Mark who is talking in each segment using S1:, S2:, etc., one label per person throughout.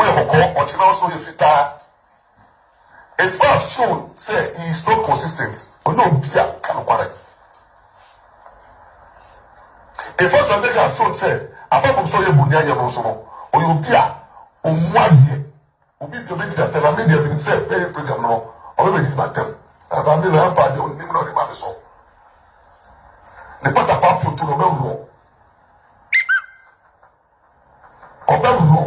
S1: Woyɛ kɔkɔɔ, ɔkyena wo so yɛ fitaa. Efua have shown sɛ he is not consistent, ɔnyɛ obi a ɔka nokware. Efua Swanseki have shown sɛ apart from sɛ ɔyɛ bonniayɛ no nso no, ɔyɛ obi a ɔmmu adeɛ. Obi deɛ ɔbɛdi n'atɛm na me deɛ menim sɛ bɛyɛ program no no ɔbɛbɛdi m'atɛm na maame no ampa deɛ ɔnim na ɔde ma me so. Ne patakwaa pioto no ɔbɛworɔ. Ɔba mu no,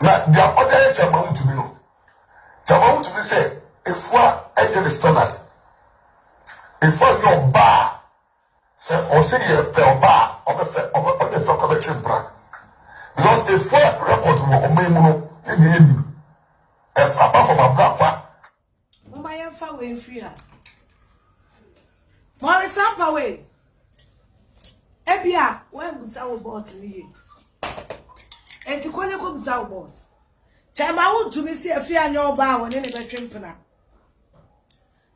S1: na deɛ ɔde ayɛ Kyamawutumi no, Kyamawutumi sɛ Efua nyɛ ne standard. Efua nyɛ ɔba a sɛ ɔse deɛ pɛ ɔba a ɔbɛfɛ ɔbɛ ɔde fɛ kɔ bɛtwe mpena because Efua record wɔ ɔman mu no ne deɛ yɛnim ɛfa aba fam abrakwa. Momma yɛmfa wei mfiri ha. Mɔre saa pa wei. Ebi a wɔabusa wo bɔs no yie. Enti kɔ ne kɔbusa wo bɔs. Kyɛ ma wontumi si afie anyɛ ɔbaa a wɔne ne bɛtwe mpena.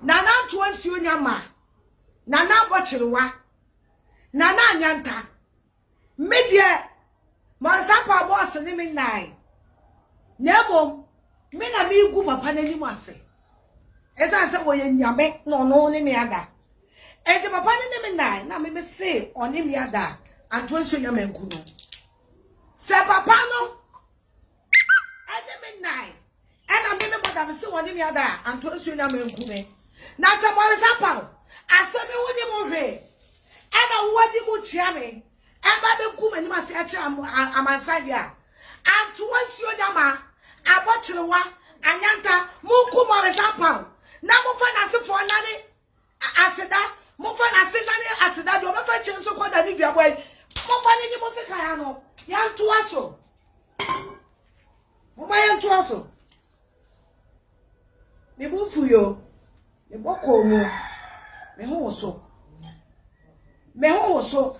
S1: Nana ntoa nsuo nya ma. Nana abɔ kyerewa. Nana anyanta. Me deɛ, Mansapaa bɔs ne me nnae, na mmom me na megu papa no anim ase. Ɛsiane sɛ wɔyɛ nyame na ɔno ne me ada. Enti papa no ne me nnae na me mese ɔne me ada a, antoa nsuo nya manku no. Sɛ papa no ɛne me nnan ɛna me me mɔda me se wɔne me ada a anto nsuo na manku me na sɛ mɔresa paw asɛ me wo ne mo hwe ɛna wowadi mu kyia me ɛba bɛgu m'anim ase akyerɛ amansan deɛ a anto nsuo da ma abɔkyerewa anyanta monku mɔresa paw na mofa n'asefoɔ nane Aseda, momfa no aseda ne aseda deɛ ɔbɛfa kyɛ nso kɔ da ne duabɔ yi. Momfa no nyi mo sekan ano. Yɛntoa so. Momma yɛntoa so. Me bo fu yo. Me bɔ kɔɔ mu. Me ho wo so. Me ho wo so.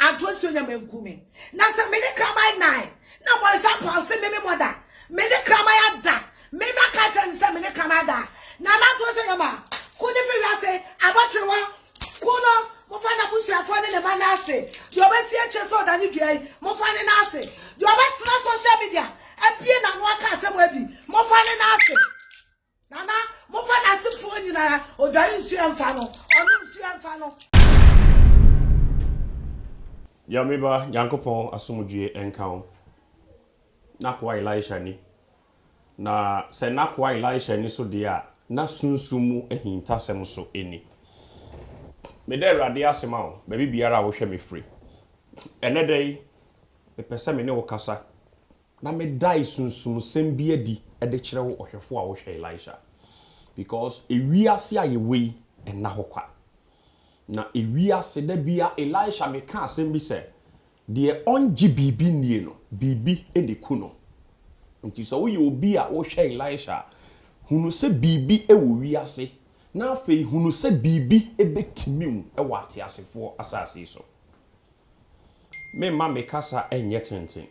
S1: Anto nsuo nyɛ manku me na sɛ mede kraman nan na mɔnsa paw se meme mɔda mede kraman ada me na ka kyerɛ ne sɛ mene kraman ada na na anto nsuo nyɛ ma ku ne firi wiase abɔkyere hɔ ku no mofa na busuafoɔ ne ne ma no ase deɛ ɔbɛsi akyire sɛ ɔdane dua yi mofa ne no ase deɛ ɔbɛtena social media apue na ano aka asɛm adi mofa ne no ase Nana momfa nasefoɔ nyinaa odware nsuo ɛmfa no ɔnom nsuo ɛmfa no. Nyame ba Nyankopɔn asomdwie nka wo N'akoa Elisha ni na sɛ N'akoa Elisha ni so deɛ a na sunsum mu ahintasɛm so ni Meda Awurade ase ma wo baabi biara a wohwɛ me firi Ɛnɛ da yi mepɛ sɛ me ne wo kasa Na medae sunsumsɛm bi adi de kyerɛ wo ɔhwɛfo a wohwɛ Elisha, because wiase a yɛwɔ yi nna hɔ kwa. Na wiase, da biara Elisha meka asɛm bi sɛ, deɛ ɔngye biribi nnie no, biribi na ɛku no. Nti sɛ woyɛ obi a wohwɛ Elisha a, hunu sɛ biribi wɔ wiase, na afei hunu sɛ biribi bɛtimi wo wɔ ateasefoɔ asase yi so. Meremma me kasa nyɛ tenten.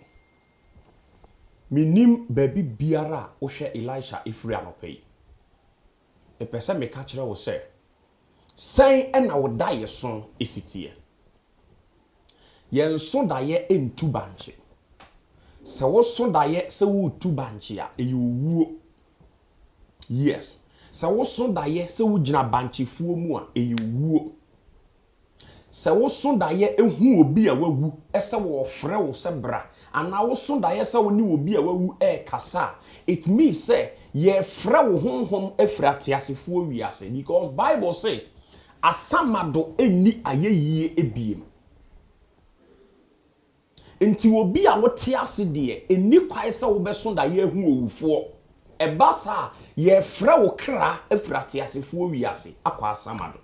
S1: Mennim baabi biara a wohwɛ Elisha firi anɔpa yi. Mepɛ sɛ meka kyerɛ wo sɛ, sɛn na wo daeɛso si teɛ? Yɛn so daeɛ ntu bankye. Sɛ wo so daeɛ sɛ woretu bankye a, ɛyɛ owuo. Yes, sɛ wo so daeɛ sɛ wogyina bankyefuo mu a, ɛyɛ owuo. Sɛ woso daeɛ hu obi a wawu sɛ wɔrefrɛ wo sɛ bra, anaa woso daeɛ sɛ wo ne obi a wawu rekasa a, it means sɛ yɛrefrɛ wo honhom afiri ateasefoɔ wiase because Bible se asamado nni ayɛyie biem. Nti obi a wote ase deɛ, ɛnni kwan sɛ wobɛso daeɛ ahu owufoɔ. Ɛba saa a, yɛrefrɛ wo kra afiri ateasefoɔ wiase akɔ asamado.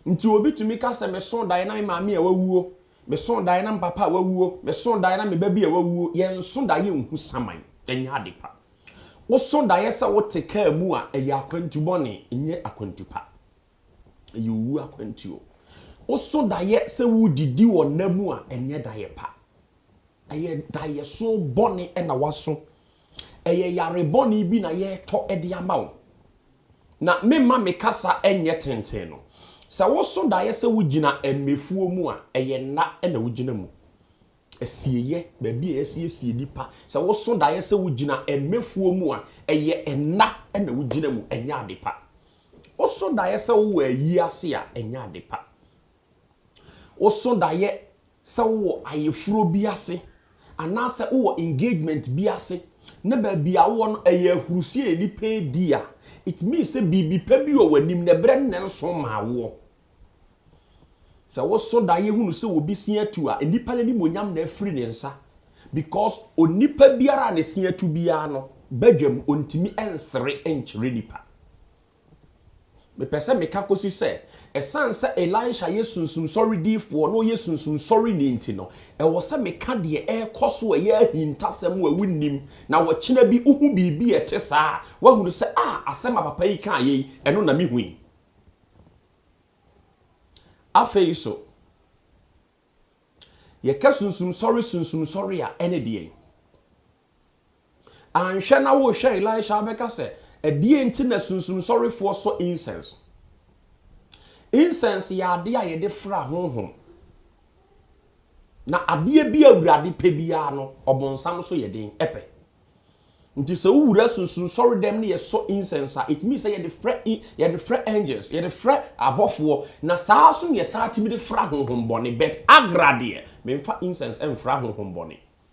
S1: Nti obi tumi ka sɛ, Mesoo daeɛ na me maame a wawuo, mesoo daeɛ na me papa a wawuo, mesoo daeɛ na me ba bi a wawuo. Yɛnso daeɛ nhu saman, ɛnyɛ ade pa. Woso daeɛ sɛ wote kaa mu a, ɛyɛ akwantu bɔne, ɛnyɛ akwantu pa. Ɛyɛ owuo akwantuo. Woso daeɛ sɛ wodidi wɔ nna mu a, ɛnyɛ daeɛ pa. Ɛyɛ daeɛso bɔne na woaso Ɛyɛ yare bɔne bi na yɛretɔ de ama wo. Na memma me kasa nyɛ tenten no, sɛ woso daeɛ sɛ wogyina mmɛfuo mu a, ɛyɛ nna na wogyina mu. Asieyɛ, baabi a yɛasiesie nipa, sɛ woso daeɛ sɛ wogyina mmɛfuo mu a, ɛyɛ nna na wogyina mu, ɛnyɛ ade pa. Woso daeɛ sɛ wowɔ ayie ase a, ɛnyɛ ade pa. Woso daeɛ sɛ wowɔ ayeforo bi ase anaasɛ wowɔ engagement bi ase na baabi a wowɔ no ɛyɛ ahurusie a nnipa redi a, it means sɛ biribi pa bi wɔ w'anim na ɛberɛ no na ɛnso mmaa woɔ. Sɛ woso daeɛ hunu sɛ obi se atu a, nnipa no animuonyam na afiri ne nsa because onipa biara a ne se atu biara no, badwam, ɔntumi nsere nkyerɛ nnipa. Mepɛ sɛ meka kosi sɛ, esiane sɛ Elisha yɛ sunsum sɔre difoɔ na ɔyɛ sunsum sɔreni nti no, ɛwɔ sɛ meka deɛ ɛrekɔ so a ɛyɛ ahintasɛm a wonnim, na ɔkyena bi wohu biribi a ɛte saa a, woahunu sɛ, Ah, asɛm a papa yi kaeɛ yi, ɛno na mehui. Afei nso, yɛka sunsum sɔre sunsum sɔre a, ɛne deɛn? Anhwɛ na worehwɛ Elisha abɛka sɛ, ɛdeɛn nti na sunsumsɔrefoɔ sɔ incense? Incense yɛ adeɛ a yɛde fra honhom. Na adeɛ bi a Awurade pɛ biara no, ɔbonsam nso yɛ den pɛ. Nti sɛ wowura sunsumsɔre dɛm ne yɛsɔ incense a, it means sɛ yɛde frɛ yɛde frɛ angels, yɛde frɛ abɔfoɔ, na saa nso na yɛsan tumi de fra honhom bɔne. But agra deɛ, memfa incense mfra honhom bɔne.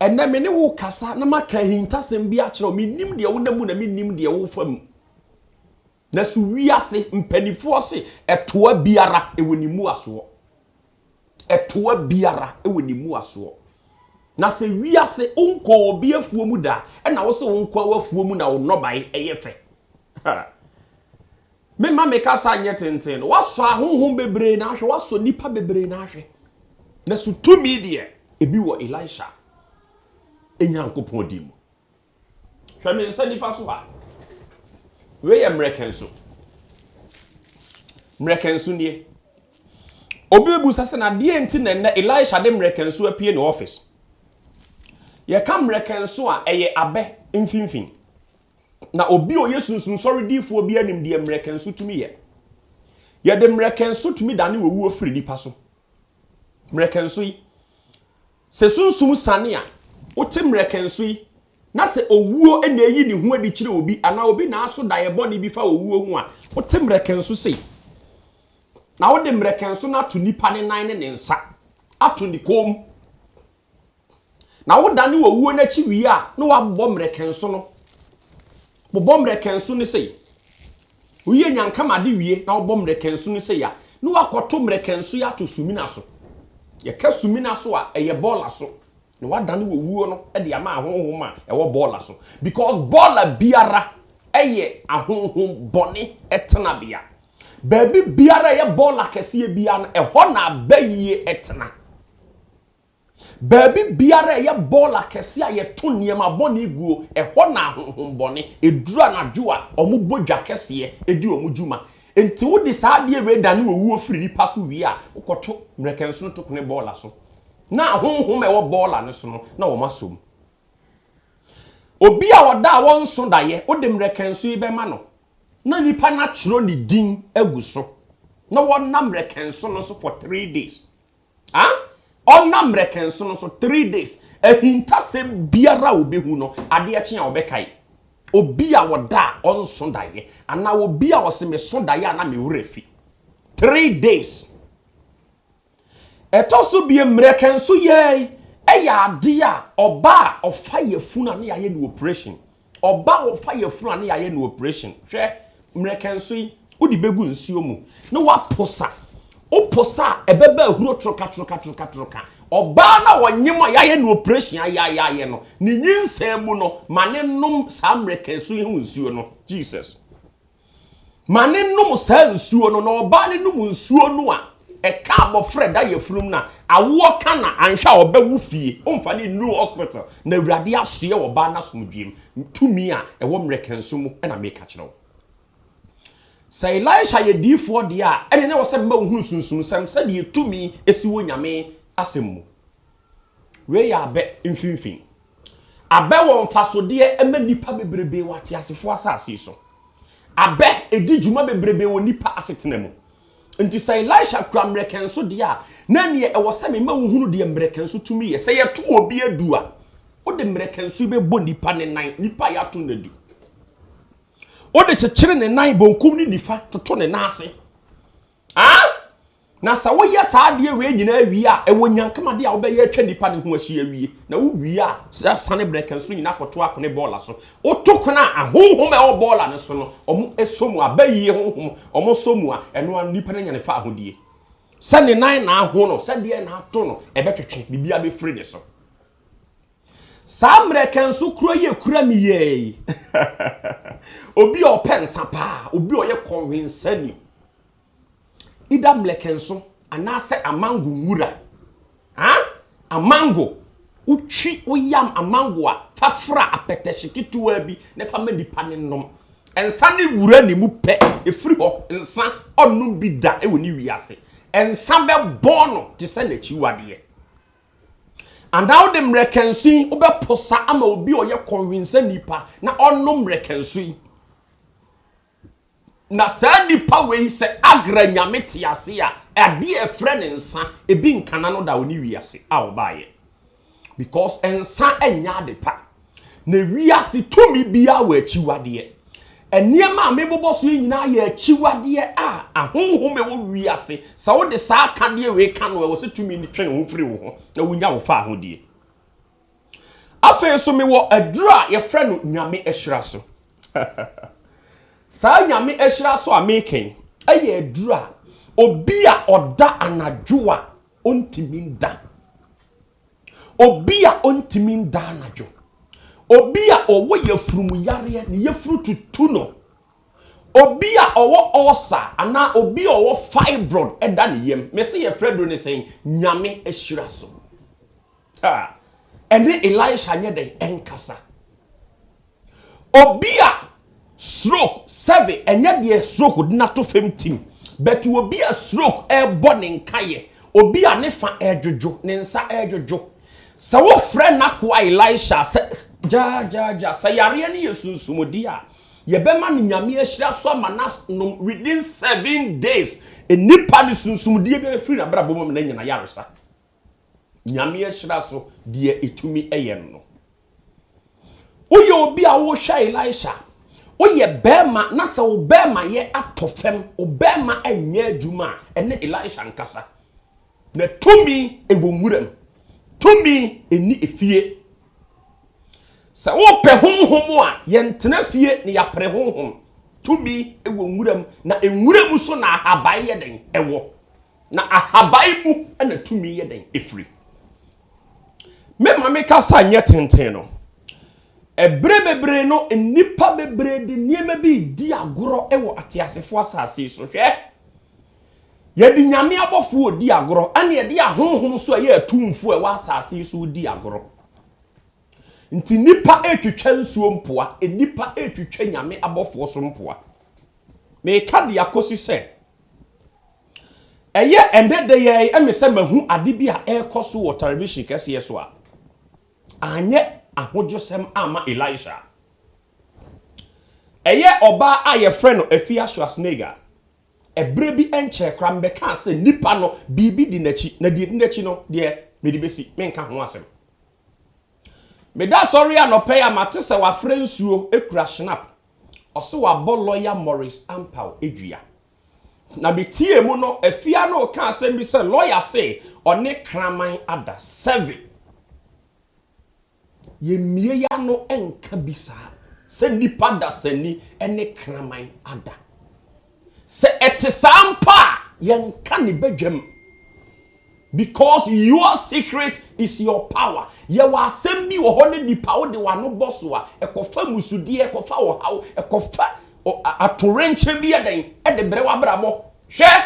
S1: Ɛnnɛ me ne wo rekasa na maka ahintasɛm bi akyerɛ wo. Mennim deɛ wonam mu na mennim deɛ wofa mu. Na so wiase mpanimfoɔ se ɛtoa biara ɛwɔ ne mmuasoɔ? Ɛtoa biara ɛwɔ ne mmuasoɔ. Na sɛ wiase wonkɔɔ obi afuo mu da a, ɛna wo se wonkɔ w'afuo mu na wo nnɔbae ɛyɛ fɛ. Ha! Memma me kasa nyɛ tenten no, woasɔ ahonhom bebree no ahwɛ, woasɔ nnipa bebree no ahwɛ, nanso tumi deɛ, ebi wɔ Elisha Nyankopɔn din mu. Hwɛ me nsa nifa so ha. Wei yɛ mmerɛkɛnso. Mmerɛkɛnso nie. Obi bebu sɛ sɛ na deɛ nti na nnɛ Elisha de mmerɛkɛnso apue ne office. Yɛka mmerɛkɛnso a, ɛyɛ abɛ mfimfini. Na obi a ɔyɛ sunsum sɔre difoɔ biara nim deɛ mmerɛkɛnso tumi yɛ. Yɛde mmerɛkɛnso tumi dane owuo firi nipa so. Mmerɛkɛnso yi, sɛ sunsum sane a, wote mmerɛkɛnso yi, na sɛ owuo na ɛyi ne ho adi kyerɛ obi, anaa obi na aso daeɛ bɔne bi fa owuo ho a, wote mmerɛkɛnso sei. Na wode mmerɛkɛnso no ato nipa ne nan ne ne nsa, ato ne kɔn mu. Na wo dane owuo no akyi wie a, na wabobɔ mmerɛkɛnso no. Bobɔ mmerɛkɛnso no sei. Woyɛ nyankamade wie na wobɔ mmerɛkɛnso no sei a, na wakɔto mmerɛkɛnso yi ato sumina so. Yɛka sumina so a, ɛyɛ bɔɔla so. Na wadane owuo no de ama ahonhom a ɛwɔ bɔɔla so. Because bɔɔla biara yɛ ahonhom bɔne tenabea. Baabi biara a ɛyɛ bɔɔla kɛseɛ biara no, ɛhɔ na abayie tena. Baabi biara a ɛyɛ bɔɔl akɛse a yɛto nneɛma bɔne guo, ɛhɔ na ahonhommɔne, ɛduru anadwo a, wɔbɔ dwa kɛseɛ di wɔn dwuma. Enti wode saa adeɛ wei dane owuo firi nnipa so wie a, wokɔto mmerɛkɛnsono tokone bɔɔla so. Na ahonhom a ɛwɔ bɔɔla no so no, na wɔasɔ mu. Obi a ɔda a ɔnso daeɛ, wode mmerɛkɛnso yi bɛma no, na nnipa no atwerɛ ne din agu so, na wɔnam mmerɛkɛnso no so for three days. Ah! Ɔnna mmerɛkɛnsono so, three days, ahintasɛm biara a ɔbɛhu no, adeɛ kye a ɔbɛkae. Obi a ɔda a ɔnso daeɛ, anaa obi a ɔse meso daeɛ a na me werɛ fi. Three days. Ɛtɔ so biem, mmerɛkɛnso yɛɛe yɛ adeɛ a ɔbaa a ɔfa yafunu a ne yɛayɛ no operation, Ɔba a wɔfa yafunu a na yɛayɛ no oprehyɛn, hwɛ, mmerɛkɛnso yi, wode bɛgu nsuo mu na woapo sa. Wopo sa a, ɛbɛba ahuro toroka-toroka-toroka-toroka. Ɔbaa no a ɔnyem a yɛayɛ no oprehyɛn ayaayaayɛ no, ne nyinsɛn mu no, ma no nnom saa mmerɛkɛnso yi ho nsuo no. Jesus. ma no nnom saa nsuo no, na ɔbaa no nom nsuo no a, ɛka abɔfra ɛda yafunum no a, awoɔ ka no a, anhwɛ a ɔbɛwo fie. Womfa no nnuru hospital. Na Awurade asoɛ ɔbaa no asomdwoeɛm. Tumi a ɛwɔ mmerɛkɛnso mu na meka kyerɛ wo. Sɛ Elisha yɛ diyifoɔ deɛ a, ɛne na ɛwɔ sɛ mema wohunu sunsumsɛm sɛdeɛ tumi si wɔ Nyame asɛm mu. Wei yɛ abɛ mfinfini. Abɛ wɔ mfasodeɛ ɛma nnipa bebrebe wɔ ateasefoɔ asase yi so. Abɛ ɛdi dwuma bebrebe wɔ nnipa asetena mu. Nti sɛ Elisha kura mmerɛkɛnso deɛ a, na neɛ ɛwɔ sɛ mema wo hunu deɛ mmerɛkɛnso tumi yɛ. Sɛ yɛto obi adu a, wode mmerɛkɛnso yi bɛbɔ nnipa ne nan, nnipa a yɛato no adu. Wode kyekyere ne nan, bonkum ne nifa, toto ne nan ase. Ah! Na sɛ woyɛ saa adeɛ wei nyinaa wie a, ɛwɔ nyankama adeɛ a wobɛyɛ atwa nipa no ho ahyia awie. Na wowie a, sane brɛ ka nso nyinaa kɔto akone bɔɔla so. Woto kone a, ahonhom a ɛwɔ bɔɔla no so no, wɔn sɔ mu a, bayie honhom, wɔn sɔ mu a, ɛno ara no nipa no anya ne faahodie. Sɛ ne nan na aho no, sɛ deɛn na ato no, ɛbɛtwetwe, biribiara bɛfiri ne so. Saa mmerɛ ka nso kura yi ɛkura me yɛɛ yi, obi a ɔpɛ nsa paa, obi a ɔyɛ kɔnwensani, either mmlɛkɛnso anaasɛ amango nwura. Huh? Amango. Wotwi, woyam amango a, fa fra apɛtɛhye ketewaa bi na fa ma nipa no nnom. Nsa ne wura ne mu pɛ, ɛfiri hɔ. Nsa, ɔnnom bi da wɔ ne wiase. Nsa bɛbɔ no te sɛ n'akyiwadeɛ. Anaa wode mmlɛkɛnso yi wobɛposa ama obi a ɔyɛ kɔnhwensani pa na ɔnnom mmlɛkɛnso yi. Na saa nipa wei sɛ Agra nyame te ase a, adeɛ a ɛfrɛ no nsa, ebi nka n'ano da ɔne wiase a ɔbaeɛ. Because nsa nyɛ adepa. Na wiase tumi biara wɔ akyiwadeɛ. Nneɛma a mebobɔ so yi nyinaa yɛ akyiwadeɛ a ahonhom a ɛwɔ wiase, sɛ wode saa akadeɛ wei ka no a, ɛwɔ sɛ tumi no twe ne ho firi wo ho na wonya wo faahodie. Afei nso mewɔ aduru a yɛfrɛ no Nyame ahyira so. Saa Nyame ahyira so a meka yi, ɛyɛ aduru a obi a ɔda anadwo a ɔntumi nda. Obi a ɔntumi nda anadwo. Obi a ɔwɔ yafurum yareɛ, ne yafuru tutu no. Obi a ɔwɔ ulcer anaa obi a ɔwɔ fibroid ɛda ne yam. Mese yɛfrɛ aduru no sɛn? Nyame ahyira so. A, ɛne Elisha nyɛ dɛn ɛnkasa. Obi a stroke sɛbe ɛnyɛ deɛ stroke de no ato fam tim, but obi a stroke ɛrebɔ ne nkaeɛ, obi a ne fa ɛredwodwo, ne nsa ɛredwodwo. Sɛ wofrɛ n'akoa Elisha a, sɛ gyaagyaagyaa, sɛ yareɛ no yɛ sunsumudi a, yɛbɛma no Nyame ahyira so ama no anom within seven days, nnipa no sunsumudie biara bɛfiri n'abrabɔ mu ama no anya n'ayaresa. Nyame ahyira so deɛ ɛtumi yɛ no no. Woyɛ obi a wohwɛ Elisha, woyɛ bɛɛma na sɛ wo bɛɛma yɛ atɔ fam, wo bɛɛma nyɛ adwuma a, ɛne Elisha nkasa. Na tumi wɔ nwuram, tumi nni efie. Sɛ wopɛ honhom a, yɛntena fie na yɛapere honhom. Tumi wɔ nwuram, na nwuram so na ahaban yɛ dɛn? Ɛwɔ. Na ahaban mu na tumi yɛ dɛn firi. Me ma me kasa nyɛ tenten no, ɛberɛ bebree no nnipa bebree de nneɛma bi redi agorɔ wɔ ateasefoɔ asase so. Hwɛ! Yɛde nyame abɔfoɔ redi agorɔ, ɛna yɛde ahonhom so ɛyɛ atumfoɔ ɛwɔ asase so redi agorɔ. Nti nnipa retwitwa nsuo mpoa, nnipa retwitwa nyame abɔfoɔ so mpoa. Meka de akɔsi sɛ, Ɛyɛ ɛnnɛ da yi ara me sɛ mahu ade bi a ɛrekɔ so wɔ television kɛseɛ so a anyɛ ahodwosɛm amma Elisha. Ɛyɛ ɔbaa a yɛfrɛ no Afia Schwarzenegger. Ɛberɛ bi nkyɛɛ koraa mebɛkaa sɛ nipa no biribi di n'akyi na deɛ ɛdi n'akyi no deɛ mede bɛsi menka ho asɛm. Meda asɔre anɔpa yi a mate sɛ wafrɛ nsuo kura Schnapp. Ɔse wabɔ lɔya Maurice Ampaw dua. Na me tiee mu no Afia no reka asɛm bi sɛ lawyer se ɔne kraman ada seven. Yɛ mmie yɛ ano nka bi saa sɛ nnipa dasani ne kraman ada. Sɛ ɛte saa mpo a yɛnka ne badwam. Because your secret is your power. Yɛwɔ asɛm bi wɔ hɔ ne nipa wo de w'ano bɔ so a, ɛkɔfa musudeɛ, ɛkɔfa ɔhaw, ɛkɔfa atorenkyɛn bi yɛ dɛn ɛde brɛ w'abrabɔ. Hwɛ!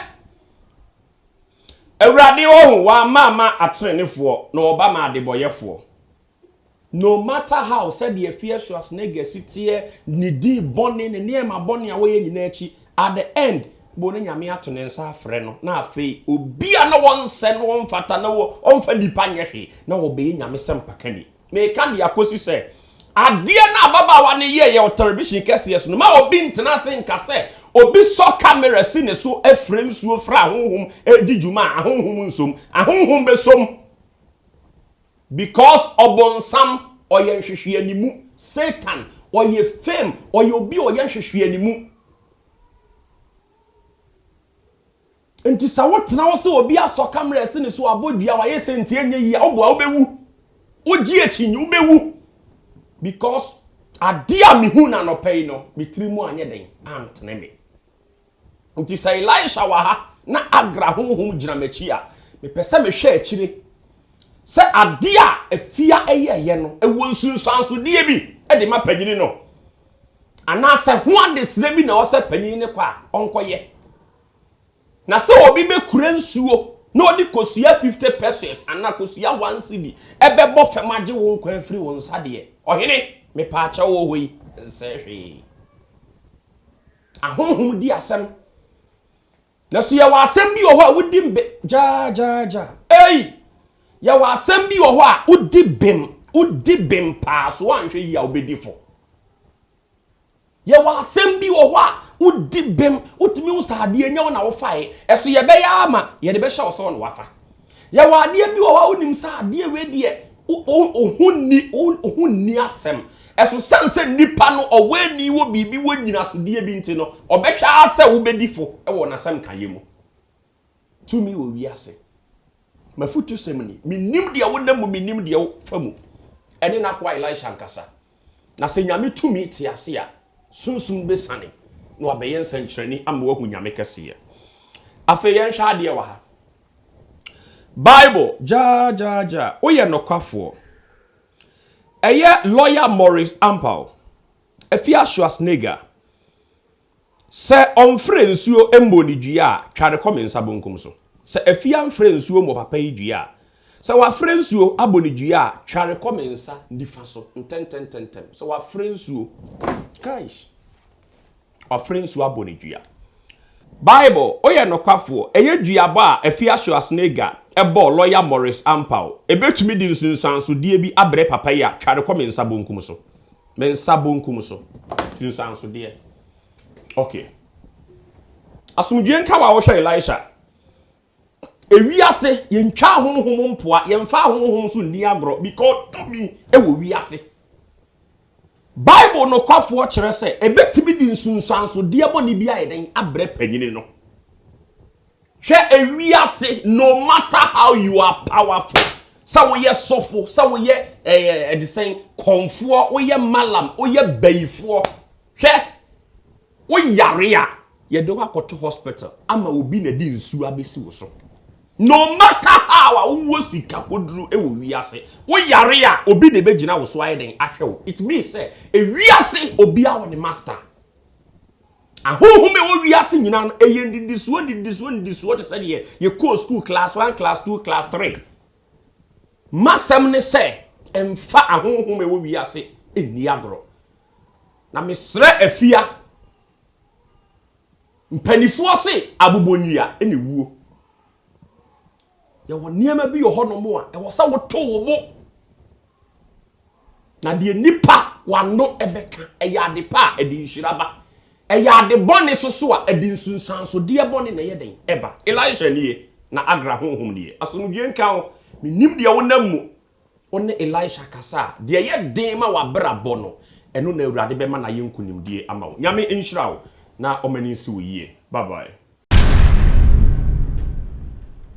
S1: Awurade ɔho, w'ama ama atenenefoɔ, na ɔba ma adebɔyɛfoɔ. No matter how, sɛdeɛ Fear Schwarzenegger si teɛ, ne din bɔne, ne nneɛma bɔne a wɔyɛ nyinaa akyi, at the end, bo no Nyame ato ne nsa afrɛ no, na afei obi a na wɔnsɛ no, ɔmfata, na ɔmfa nnipa nyɛ hwee, na ɔbɛyɛ Nyame sɛmpakani. Meka de akɔsi sɛ, adeɛ no a ababaawa no yɛeɛ wɔ television kɛseɛ so no, ma obi ntena ase nka sɛ obi sɔ camera si ne so frɛ nsuo frɛ ahonhom redi dwuma a ahonhom nsom. Ahonhom bɛsom. Because ɔbonsam ɔyɛ nhwehweanimu, Satan ɔyɛ fame, ɔyɛ obi a ɔyɛ nhwehweanimu. Nti sɛ wotena hɔ sɛ obi asɔ camera asi ne so, wabɔ dua, wayɛ sɛ nti ɛnyɛ yie a, woboa wobɛwu. Wogye akyi nyi, wobɛwu. Because adeɛ a mehu no anɔpa yi no, me tiri mu anyɛ dɛn, antene me. Enti sɛ Elisha wɔ ha na Agra honhom gyina m'akyi a, mepɛ sɛ mehwɛ akyire sɛ adeɛ a afia yɛeɛ no, ɛwɔ nsunsuansodeɛ bi de ma panyini no, anaasɛ ho adesrɛ bi na ɛwɔ sɛ panyini no kɔ a ɔnkɔyɛ. Na sɛ obi bɛkura nsuo na ɔde kosua 50 pesos anaa kosua one cedi bɛbɔ fam agye wo nkwa afiri wo nsa deɛ, ɔhene, mepaakyɛw wɔ hɔ yi nsɛe hwee. Ahonhom di asɛm. Na so yɛwɔ asɛm bi wɔ hɔ a wodi mbe gyaagyaagya? Ei! Yɛwɔ asɛm bi wɔ hɔ a wodi bem, wodi bem paa, so woanhwɛ yie a wobɛdi fɔ. Yɛwɔ asɛm bi wɔ hɔ a wodi bem, wotumi hu sɛ adeɛ nyɛ wo na wofaeɛ, ɛso yɛbɛyɛ ara ma yɛde bɛhyɛ wo sɛ wo na woafa. Yɛwɔ adeɛ bi wɔ hɔ a wonim sɛ adeɛ wei deɛ oho nni oho nni asɛm ɛso sɛn sɛ nipa no ɔwɔ ani wɔ biribi wɔ nyinasodeɛ bi nti no ɔbɛhwɛ ara sɛ wobɛdi fo wɔ n'asɛm kaeɛ mu tumi wɔ wiase mafutusɛm ni menim deɛ wonam mu menim deɛ wofa mu ɛne n'akoa Elisha ankasa Na sɛ Nyame tumi te ase a, sunsum no bɛsiane na wabɛyɛ nsɛnkyerɛnne ama woahu Nyame kɛseyɛ. Afei yɛnhwɛ adeɛ wɔ ha. Bible gyaagyaagya, woyɛ nokwafoɔ. Ɛyɛ Lawyer Maurice Ampao, Efiasu Asnega. Sɛ ɔmfrɛ nsuo mmɔ ne dua a, twa no kɔ me nsa bonkum so. Sɛ afie amfrɛ nsuo mmɔ papa yi dua a, sɛ wafrɛ nsuo abɔ ne dua a, twa no kɔ me nsa nifa so ntɛntɛntɛntɛm. Sɛ wafrɛ nsuo, kaish, wafrɛ nsuo abɔ ne dua. Bible, woyɛ nokwafoɔ, ɛyɛ duabɔ a Afia Schwarzenegger bɔɔ lɔya Morris Ampau. Ɛbɛtumi de nsunsuansodeɛ bi abrɛ papa yi a, twa no kɔ me nsa bonkum so. Me nsa bonkum so, tu nsansodeɛ. Ok. Asomdwoeɛ nka wa wohwɛ Elisha. Ewiase, yɛntwa ahonhom mpoa, yɛmfa ahonhom so nni agorɔ because tumi wɔ wiase. Bible nokwafoɔ kyerɛ sɛ ɛbɛtumi de nsunsuansodeɛ bɔne bi ayɛ dɛn abrɛ panyini no. Hwɛ ewiase no matter how you are powerful sɛ woyɛ sɔfo sɛ woyɛ ɛyɛ ɛdesɛn kɔnfoɔ woyɛ malam woyɛ bayifoɔ hwɛ woyare a yɛde wakɔto hospital ama obi na de nsuo abɛsi wo so no matter how a wowɔ sika koduro wɔ wiase woyare a obi na ɛbɛgyina wo so ayɛ den ahwɛ wo it means sɛ ewiase obiara wɔ ne master. Ahonhom a ɛwɔ wiase nyinaa no, ɛyɛ nnidisoɔ, nnidisoɔ, nnidisoɔ te sɛ deɛ yɛkɔɔ sukuu class one, class two, class three. M'asɛm ne sɛ, mfa ahonhom a ɛwɔ wiase nni agorɔ. Na mesrɛ afia, mpanimfoɔ se abobɔnwia na ɛwuo. Yɛwɔ nneɛma bi wɔ hɔnom a ɛwɔ sɛ woto wo bo. Na deɛ nnipa wano bɛka, ɛyɛ ade pa a ɛde nhyira ba. Ɛyɛ ade bɔne nso so a ɛde nsunsuansodeɛ bɔne na ɛyɛ dɛn? Ɛba. Elisha nie na Agra honhom nie. Asomdwoeɛ nka wo. Mennim deɛ wonam mu. Wo ne Elisha kasa a, deɛ ɛyɛ den ma w'abrabɔ no, ɛno na Awurade bɛma no ayɛ nkunimdie ama wo. Nyame nhyira wo na ɔma ani nsi wo yie. Bye bye.